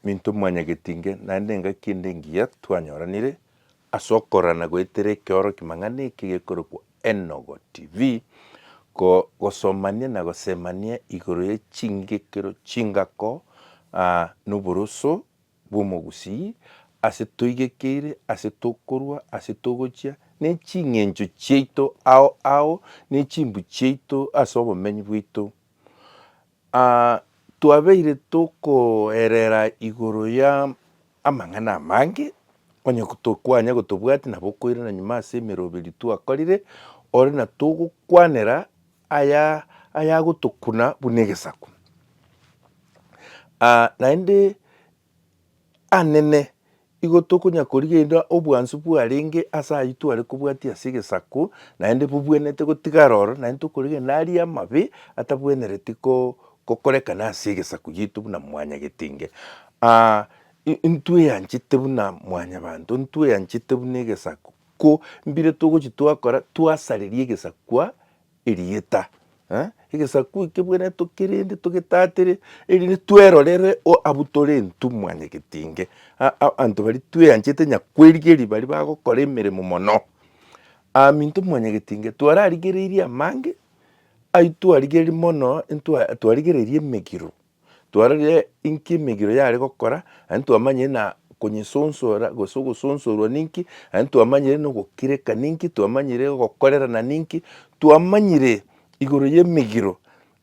Minto mwanyagetinge, naende engaki ende engiya twanyoranire ase okorora na goetera ekeorokia mang'ana eke gekorokwa Enogo TV, ko gosomania na gosemania igoro ye chingekero chingako aa noboroso bw'omogusii ase toigekeire, ase tokorua, ase togochia, ne ching'encho chiaito ao ao ne chimbu chiaito ase obomenyi bwaito. Aa, twabeire tokoerera igoro ya amang'ana amange, onye tokwanya gotobwati nabo okoirana nyuma ase emeroberi twakorire, ore na togokwanera aya ayagotokuna buna egesaku. Aa, naende anene, igo tokonya korigereria obwansu bwarenge ase ayio tware kobwatia ase egesaku, naende bobwenerete gotigara oro, naende tokorigereria naria amabe atabwenereti ko- kokorekana ase egesaku giaito buna mwanyagetinge. intweanchete buna mwanyabanto, ntweanchete buna egesaku, ko mbire togochi twakora, twasareria egesaku kwa Erieta, egesaku eke bwene tokerende togetatere, erinde twerorere abwo tore intwe mwanyagetinge, abanto baria tweanchete nyakwerigeria baria bagokora emeremo mono. Ahm intwe mwanyagetinge twararigereirie amange, aitwarigereiri mono intwe twararigereirie emegiro. Twarorire inki emegiro yare gokora, aye ntwamanyire na konyesonsora gose ogosonsorwa ninki, aye ntwamanyire na ogokireka ninki, twamanyire ogokorerana ninki, twamanyire igoro y'emegiro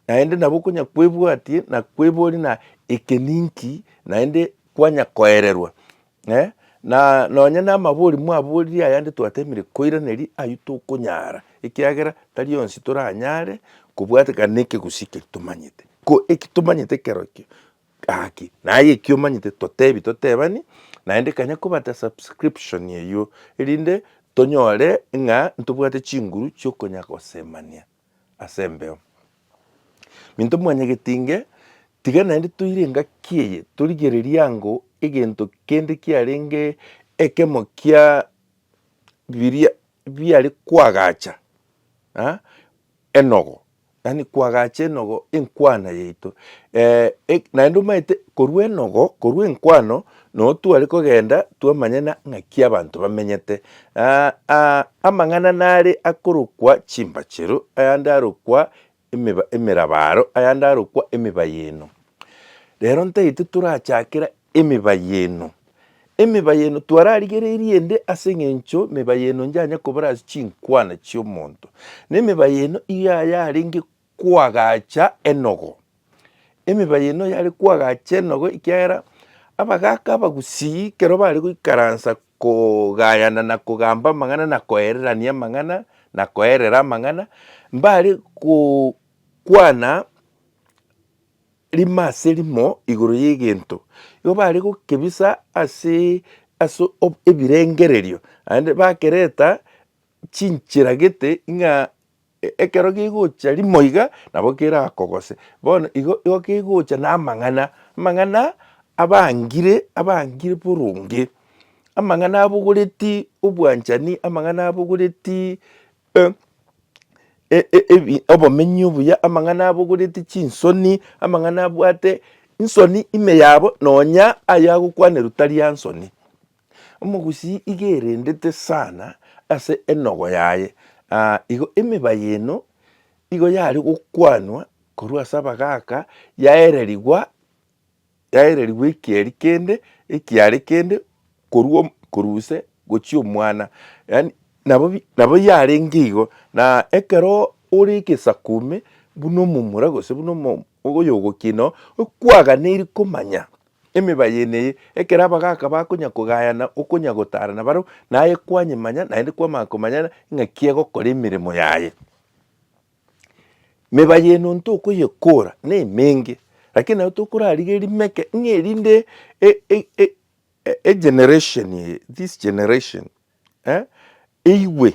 naende nabo okonya kwebwatia na kweboria na eke ninki naende kwanya koererwa Ee, na nonye namabori mwaboririe ayande twateemire koiraneria, ayio tokonyara, ekiagera tari onsi toranyare kobwateka nekegusii keria tomanyete. Ko eki tomanyete kerokio gaki, naye eki omanyete totebi totebani, naende ekanya kobata subscription eyio, erinde tonyore ng'a ntobwate chinguru chiokonya gosemania. as'embeo. Minto mwanyagetinge, tiga naende toire engaki eye, torigererie ango egento kende kiarenge ekemo kia biria biare koagacha enogo, yaani koagacha enogo enkwana yaito naende omanyete korwa enogo, korwa enkwano Noo tware kogenda twamanyana ng'aki abanto bamenyete. Aa amang'ana nare akorokwa chimbachero, ayande arokwa emiba emerabaro, ayande arokwa emiba y'eno. Rero ntaito torachakera emiba y'eno. Emiba y'eno twararigereirie ende ase eng'encho miba y'eno nyanyakoborasi chinkwana chi'omonto. Na emiba y'eno iga yarenge koagacha enogo. Emiba y'eno yare koagacha enogo ekiagera abagaaka abagusii kero bare goikaransa kogayana na kogamba amang'ana na koererania amang'ana na koerera amang'ana, mbare gokwana rimo ase rimo igoro y'egento. Igo bare gokebisa ase ebirengererio naende bakereta chinchera gete ng'a. Ekero gegocha rimo iga nabo kerakogose, bono igo igo kegocha na amang'ana, amang'ana abangire abangire boronge, amang'ana abogoreti obwanchani, amang'ana abogoreti ebi obomenyo obuya, amang'ana abogoreti chinsoni, amang'ana abwate nsoni ime yabo nonya ayagokwanerwa tari ansoni. Omogusii iga erendete sana ase enogo yaye, aa igo emeba y'eno igo yare gokwanwa korwa ase abagaaka yaererigwa, yaererigwa ekieri kende, ekiare kende korwa korwa ise gochia omwana. Yaani nabo bi nabo yarenge igo, na ekero ore egesaku ime buna omomura gose buna omo oyogokina oo, okwaganeiri komanya. Emeba y'ene eye, ekero abagaaka bakonya kogayana okonya gotaarana bareo, naye kwanyemanya, naende kwamanya komanyana ing'aki egokora emeremo yaye. Meba y'ene onto okoyekora nemenge, lakini nabo tokorarigeria rimeke ng'a erinde egeneration eye, this generation, eigwe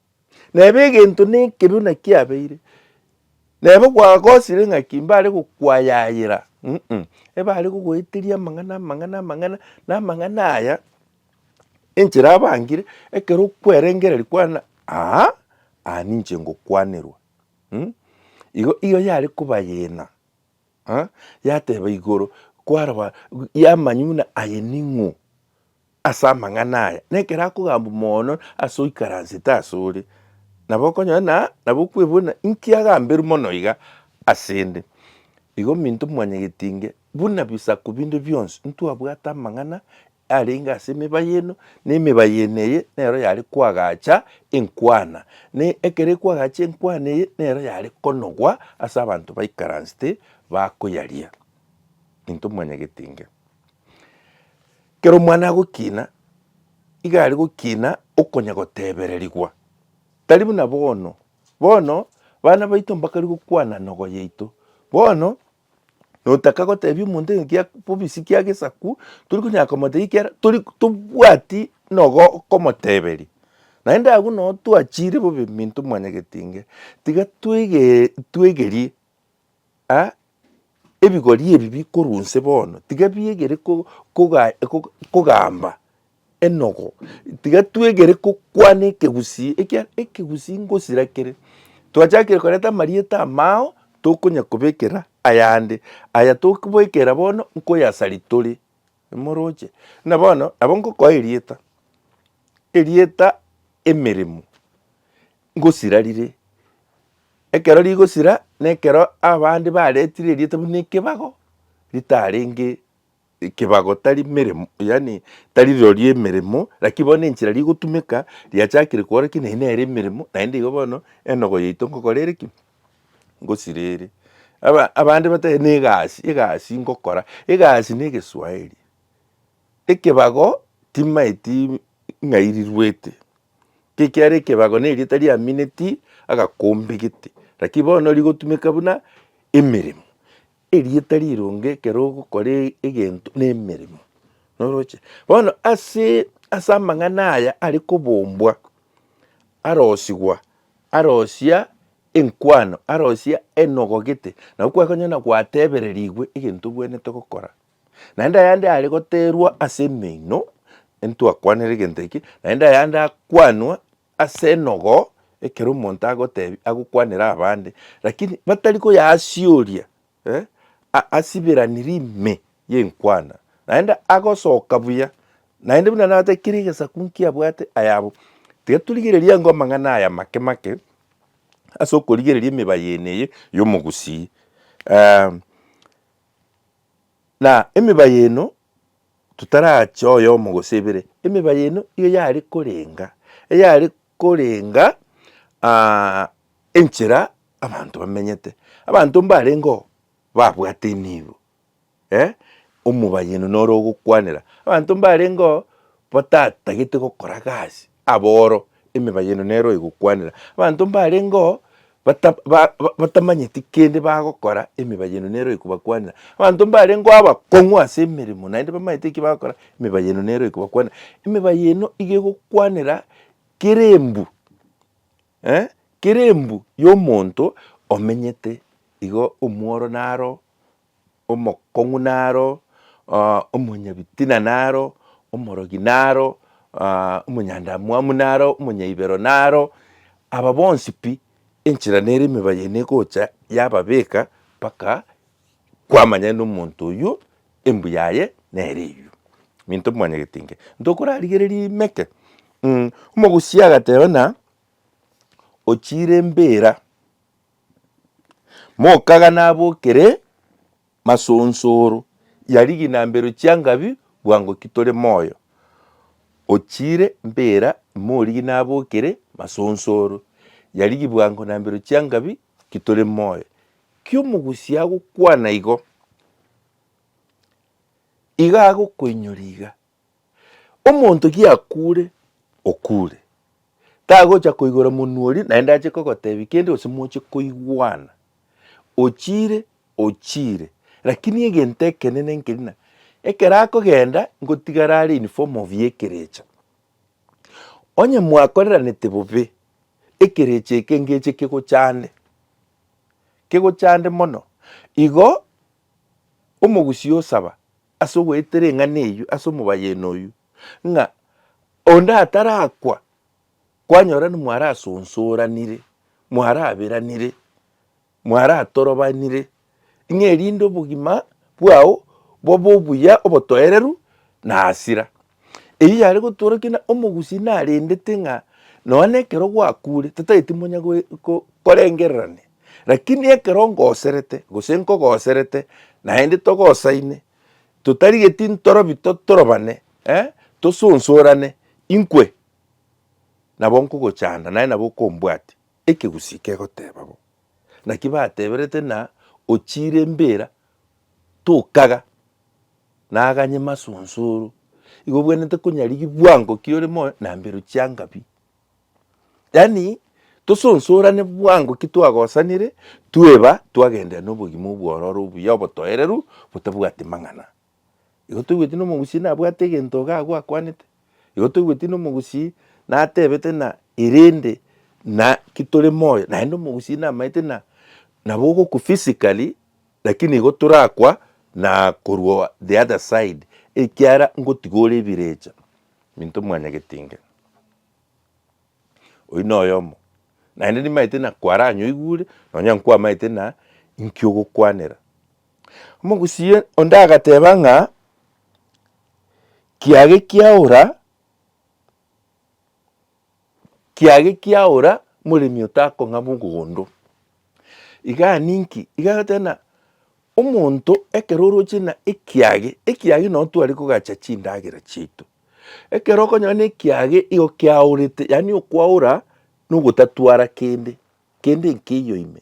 Neba egento nekebe buna kiabeire, neba gwagosire ng'aki mbare gokwayayera um ebare gogoeteria amang'ana amang'ana amang'ana, na amang'ana aya enchera abangire ekero okwerengereria kwane aa aa ninche ngokwanerwa um igo igo yare kobayena yateba igoro kwaraba yamanya buna aye ning'o. Ase amang'ana aya, nekero akogambwa moono ase oikaransete asore, nabo okonyora na nabo okwebona inki agamberwe mono iga asende. Igo minto mwanyageti inge, buna bisaku binde bionsi, ntwabwate amang'ana arenge ase emeba y'eno, na emeba y'eno eye nero yare koagacha enkwana, na ekero ekwagacha enkwana eye nero yare konogwa ase abanto baikaransete bakoyaria. Minto mwanyageti inge. Kera omwana agokina, iga are gokina okonya gotebererigwa, tari buna bono. Bono bana baito mbakari gokwana nogo yaito. Bono notaka gotebia omonto ng'a kia bobisi kia gesaku, tori konyara komotebia ekiagera tori tobwati nogo okomoteberia. Naende agwo no twachire bobe minto mwanyagetinge, tiga twege twegerie. A Ebigori ebi bikorwa onse bono, tiga biegere kogamba enogo, tiga twegere gokwana ekegusii, ekiagera ekegusii ngosira kere. Twachakire koreta amarieta amao, tokonya kobekera ayande, aya tokobekera bono nkoyasa ritore, nimoroche. Buna bono, nabo ngokoa erieta, erieta emeremo, Ngosira rire. Ekero rigosira nekero abande baretire erieta buna ekebago, ritarenge ekebago tari meremo yaani tari rirorio emeremo lakini bono enchera rigotumeka riachakire kora ki naende nere emeremo naende igo bono enogo yaito ngokora ere ki? Ngosira ere. Abande bateba na egasi, egasi ngokora, egasi na egeswaeri. Ekebago timaeti ng'ai riruete, ekiagera ekebago nerieta riamineti agakombe gete, lakini bono rigotumeka buna emeremo. Erieta rironge ekero ogokora egento na emeremo, noroche. Bono ase ase amang'ana aya are kobombwa, arosigwa, arosia enkwano, arosia enogo gete, nabo kwakonyora na gwatebererigwe egento obwenerete gokora. Naende ayande are goterwa ase emeino, ntwakwanere egento eke, naende ayande akwanwa ase enogo, ekero omonto agotebi agokwanera abande, lakini batari koyasioria eh, asiberaniri ime y'enkwana, naende agosoka buya, naende buna nabwate kera egesaku nkiabwate ayabo. Tiga torigereria ango amang'ana aya amake make, ase okorigereria emebaye ene eye y'omogusii. Na emiba y'eno, totaraache oyomo gose ebere, emiba y'eno nigo yare korenga, eyare korenga enchera abanto bamenyete. Abanto mbarenge oo babwate enibo, omoba y'eno noro ogokwanera. Abanto mbarenge oo batatagete gokora gasi, Abooro, emeba yaino nero egokwanera. Abanto mbarengeo bata ba ba batamanyeti kende bagokora, emeba yaino nero ekobakwanera. Abanto mbarengeo abakong'u ase emeremo naende bamanyete eki bagokora, emeba yaino nero ekobakwanera. Emeba yaino iga egokwanera kera embu eh, kera embu y'omonto omenyete igo omworo naro omokong'u naro, omonyabitina naro, omorogi naro, omonyandamwamu naro, omonyaibero naro, aba bonsi pi enchera nere emeba yaino egocha yababeka mpaka kwamanya ng'a omonto oyio embuya yaye nere eyio. Minto mwanyagete inke, ntokorarigereria ime eke, omogusia agateba ng'a ochiire mbera Mokaga nabokere masonsoro ya riginambero chia Ngabi bwango ki tore moyo ochire mpera imorigi nabokere masonsoro ya rigi bwango nambero chia Ngabi ki tore moyo ki omogusii agokwana igo, iga agokoinyora iga. Omonto giakuure, okuure. Tagocha koigora monwa oria naende ache kogotebia kende gose moche koigwana. Ochiire, ochiire. Lakini egento ekenene nkeri ng'a ekero akogenda ngotigara are in form of ekerecha. Onye mwakoreranete bobe, ekerecha eke ngeche kegochande, kegochande mono. Igo Omogusii osaba ase ogoeta ring'ana eyio ase omobayeno oyio, ng'a onde atarakwa, kwanyora nimwarasonsoranire, mwaraberanire, mwaratorobanire, ng'a erinde obogima bwao bobe obuya, obotoereru, na hasira. Eyio yare gotoora kina omogusii narendete ng'a nonya na ekero gwakure tataeti monya korengererania, rakini ekero ngoserete gose nkogoserete naende togosaine totarigeti ntorobi torobane tosonsorane inkwe nabo nkogochanda naende nabo okombwatia. Ekegusii kegoteeba bo. Naki bateberete ng'a ochiire mbera tokaga. Naganye masunsuru, igo obwenerete konyarigia bwango ki ore moyo na mbero chianga pi. Yaani tosunsurane bwango ki twagosanire, tweba, twagenderera na obogima obwororo obuya obotoereru botabwati mang'ana. Igo toigweti na omogusii nabwate egento iga agwo akwanete, igo toigweti na omogusii natebete ng'a erende naki tore moyo, naende omogusii namaete ng'a nabo ogokwa physically. Naki nigo torakwa na korwa the other side ekiara ngotiga ore ebirecha minto mwanya getinge. Oyio noyomo naende nimaete na kwaranyoigure nonya nkwamaete na inki ogokwanera. Omogusii onde agateba ng'a kiage kiaora. Kiage kia ora moremi otakong'ama ogogondo. Igaa ninki? Iga agoteba na omonto ekero oroche na ekiage, ekiage nonya tware kogacha chindagera chiaito. Ekero okonyora na ekiage igo kiaorete, yaani okwaora nogotatwara kende, kende nkeiyo ime.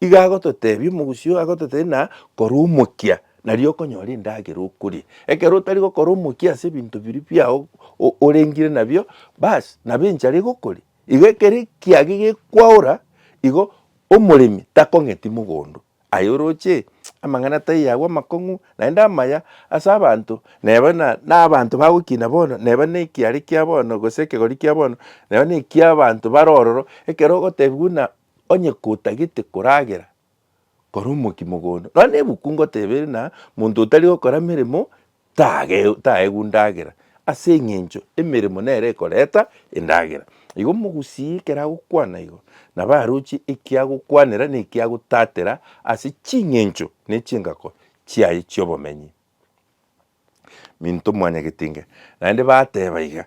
Igo agototebia omogusii oo, agototebia na kora omokia, nario okonyora endagera okoria. Ekero otari gokora omokia ase ebinto biria biao o- orengire nabio, bas nabo enchara egokoria. Igo ekero ekiage gekwaora, igo omoremi takong'eti mogondo, aye oroche amang'ana tai aywo amakong'u naende amaya ase abanto, neba na nabanto bagokina bono, neba na ekiare kia bono gose ekegori kia bono, neba na ekiabanto bare ororo, ekero ogotebiwa buna Onye kotagete koragera kore omokia mogondo, nonya nebuku ngoteba ere na monto otari gokora meremo tage taegwa ndagera, ase eng'encho emeremo nere ekoreta endagera. Igo mogusii ekero agokwana igo, nabo aroche ekiagokwanera na ekiagotatera ase ching'encho na echingako chiaye chi'obomenyi. Minto mwanyagetinga, naende bateba iga.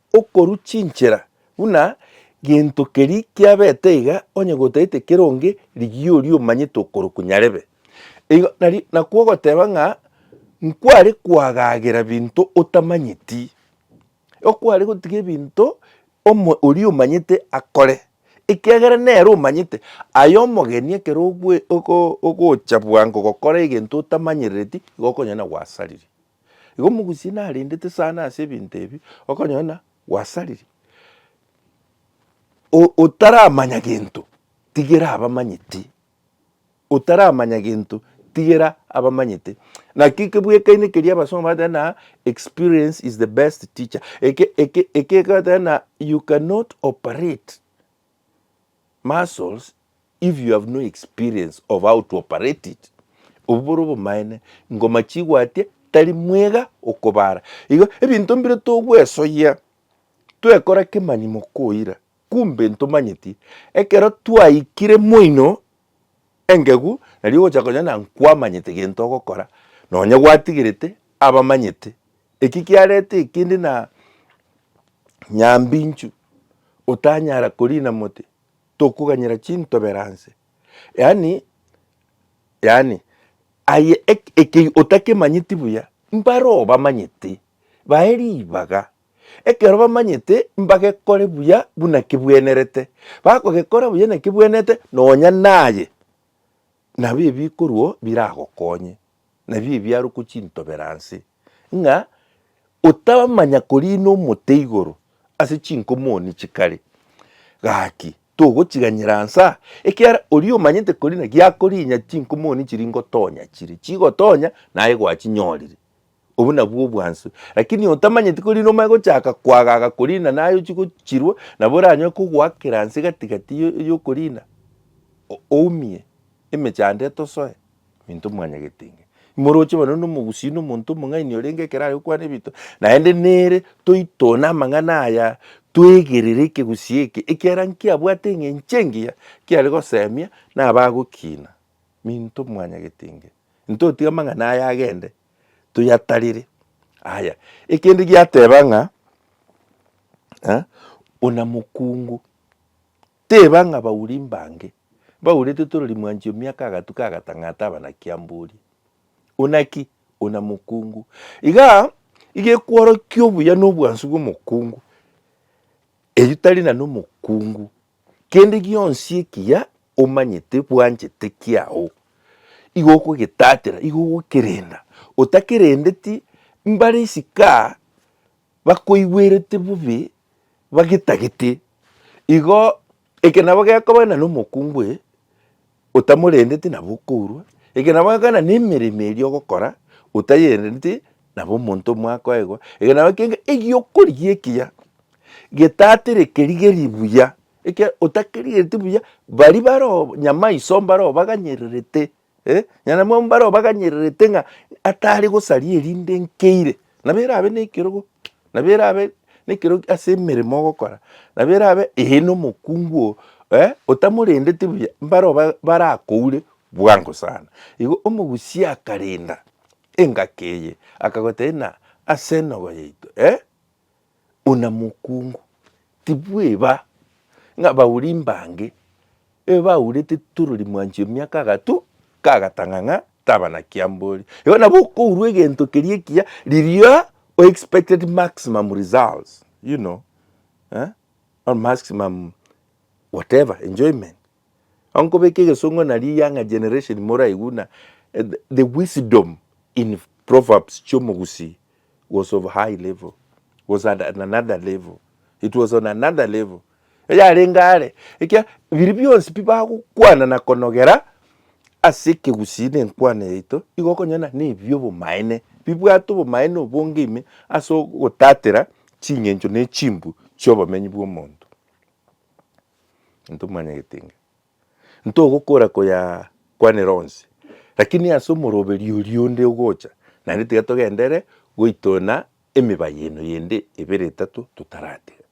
Okorwa chinchera buna gento keri kiabete iga onye gotaete keronge rigiya oria omanyete okorokwa nyarebe. Igo nari nakwo ogoteba ng'a nkware koagagera binto otamanyeti. Okware gotiga ebinto omo oria omanyete akore ekiagera nere omanyete. Aye omogeni ekero ogwe ogo ogocha bwango gokora egento otamanyerereti igo okonyora na gwasariri. Igo omogusie narendete sana ase ebinto ebi, okonyona gwasariri, otaramanya gento tigera abamanyeti, otaramanya gento tigera abamanyete. Naki eke bwekaine keria abasongo bagotebi ng'a experience is the best teacher, eke eke eke ekegotebi ng'a you cannot operate. muscles if you have no experience of how to operate it. Obwo bore obomaene, ngoma chigwatia tari mwega okobara. Igo ebinto mbire togwesoyia twekora kemani mokoira, kumbe ntomanyeti ekero twaikire moino engegu nari ogocha konya na nkwamanyete gento ogokora, nonye gwatigerete abamanyete. Eki kiarete ekindi na nyambinchu otanyara korina mote tokoganyera chintoberanse, yaani yaani aye eke otakemanyeti buya mbaro obamanyete bae ribaga, ekero bamanyete mbagekore buya buna kebwenerete, bakogekora buya na kebwenerete nonya naye nabo ebikorwa biragokonye. Nabio ebiaruku chintobera nse, ng'a otamanya koriina omote igoro ase chinko moni chikare. Gaki, togochiganyera nsa, ekiagera oria omanyete koriina giakoriinya chinko moni chiria ingotonya chire chigotonya, naye gwachinyorire. Obwo nabwo obwansu. Lakini otamanyeti koriina omanye gochaka koagaga koriina naye ochie gochirwa, nabo oranyare kogoakera nse gati gati y'okoriina, oumie, emechando etosoe. Minto mwanyagete inge. Imoroche bono nomogusii na omonto omong'aini orenge ekero are gokwana ebinto, naende nere toitone amang'ana aya twegerere ekegusii eke, ekiagera nkiabwate eng'encho engiya kiare gosemia na abagokina. Minto mwanyagete inge. Ntotiga amang'ana aya agende toyatarere. Aya, ekende giateba ng'a buna mokungu. Teba ng'a bauri mbange mbaurete torori mwanchi o miaka agatuka agatang'ata abanaki amborie, Una ki? Una mokungu. Iga iga ekworokia obuya na obwansu bw'omokungu, erio tari na nomokungu. Kende gionsi ekiya omanyete bwanchete kiao, igo okogetatera, igo ogokerenda, otakerendeti mbare isiko aa bakoigwerete bobe bagetagete, igo eke nabo gekoba ng'a nomokungu oye otamorendeti nabo okourwa, eke nabo gekoba ng'a nemeremo eria ogokora otayereti nabo omonto mwakoegwa, eke nabo gekoba ng'a egiokorigia ekiya getatĩreke rigeri buya, ekiagera otakerigereti buya baria baroo nyamaiso mbaroo baganyererete. eh, nyanyamoyo mbareo baganyererete ng'a atare gosaria erinde nkeire, nabo erabe na ekerogo, nabo erabe na ekerogo ase emeremo ogokora, nabo erabe eh na omokungu oo eh otamorendeti buya mbareo ba- barakoure bwango sana. Igo omogusia akarenda engaki eye akagotebia ng'a ase enogo yaito eh, ona mokungu, tibweba ng'a abauri mbange ebe baurete torori mwanchi emiaka agato kagatang'a ng'a tabanakiambori. Igo nabo okourwa egento keria ekiya riria o expected maximum results you know or maximum whatever enjoyment Onkobeka egesongo na riyang'a generation moraigu na the wisdom in proverbs chiomogusii was of high level was at another level it was on another level eyarenge are ekia biri bionsi pi bagokwana na konogera ase ekegusii na enkwana yaito igo okonyora nebi obomaene bibwate obomaene obonge ime ase ogotatera ching'encho ne chimbu chiobomenyi bwomonto. Intwe manye egetenge. Ntogokora koya kwanera onsi. Lakini ase omoroberi oria onde ogocha, naende tiga togendere goitona emibaye eno yende ebere etato totaratiga.